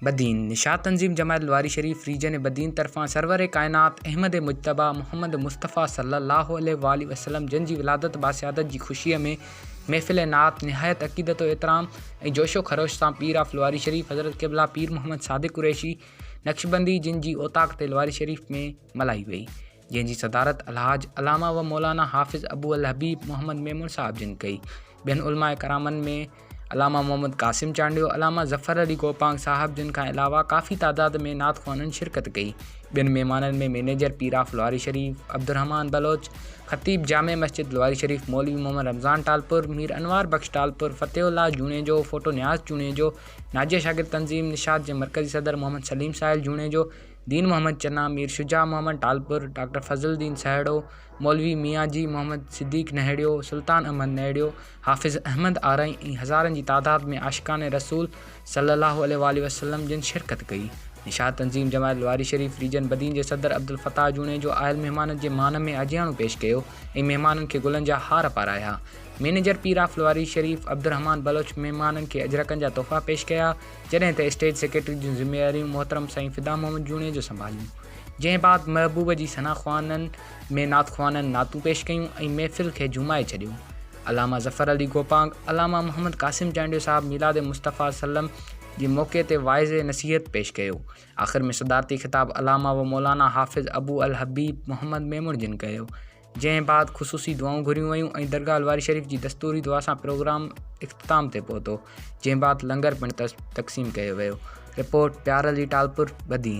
بدين، نشاط تنظيم جماعت لواري شريف ريجن بدين طرفان سرور ڪائنات احمد مجتبيٰ محمد مصطفيٰ صلّي اللّٰه عليه واٰله وسلّم جن جي ولادت باسعادت جي خوشيء ۾ محفل نعت نهايت عقيدت و احترام ۽ جوش و خروش سان پير آف لواري شريف حضرت قبله پير محمد صادق قريشي نقشبندي جن جي اوطاق تي لواري شريف ۾ ملهائي وئي. جنهن جي صدارت الحاج علامه و مولانا حافظ ابو الحبيب محمد ميمڻ صاحب جن ڪئي. ٻين علماء ڪرامن ۾ علامه محمد قاسم چانڊيو، علامه ظفر علي گوپانگ صاحب جن کان علاوه ڪافي تعداد ۾ نعت خوانن شرڪت ڪئي. ٻين مهمانن ۾ مئنيجر پيراف لواري شريف، عبدالرحمان بلوچ، خطيب جامع مسجد لواري شريف مولوي محمد رمضان ٽالپر، مير انوار بخش ٽالپر، فتح الله جوڻيجو، ڦوٽو نياز جوڻيجو، ناجيه شاگرد تنظيم نشاط جي مرڪزي صدر محمد سليم ساحل جوڻيجو، دين محمد چنا، مير شجاع محمد ٽالپر، ڊاڪٽر فضل الدين سهڙو، مولوي ميان جي محمد صديق نهڙيو، سلطان احمد نهڙيو، حافظ احمد آرائين ۽ هزارن جي تعداد ۾ عاشقان رسول صلي الله عليه واٰله وسلم جن شرڪت ڪئي. نشاد تنظيم جماعت لواري شريف ريجن بدين جي صدر عبدالفتاح جوڻيجو آيل مهمانن جي مان ۾ اجهياڻو پيش ڪيو ۽ مهمانن کي گلن جا هار پارايا. مئنيجر پير آف لواري شريف عبدالرحمان بلوچ مهمانن کي اجرڪن جا تحفا پيش ڪيا. جڏهن ته اسٽيج سيڪريٽري جون ذميواريون محترم سائين فدا محمد جوڻيجو سنڀاليون جنهن بعد محبوب جي ثنا خوانن ۾ نعت خوانن نعتون پيش ڪيون ۽ محفل کي جهومائي ڇڏيو علامه ظفر علي گوپانگ علامه محمد قاسم چانڊيو صاحب ميلاد مصطفيٰ صلعم جي موقعي تي واعظ نصيحت پيش ڪيو آخر ۾ صدارتي خطاب علامه و مولانا حافظ ابو الحبيب محمد ميمڻ جن ڪيو جنهن بعد خصوصي دعائون گهريون ويون ۽ درگاهه الواري شريف جي دستوري دعا سان پروگرام اختتام تي پهتو جنهن بعد لنگر پڻ تقسيم ڪيو ويو رپورٽ پيارعلي ٽالپر بدين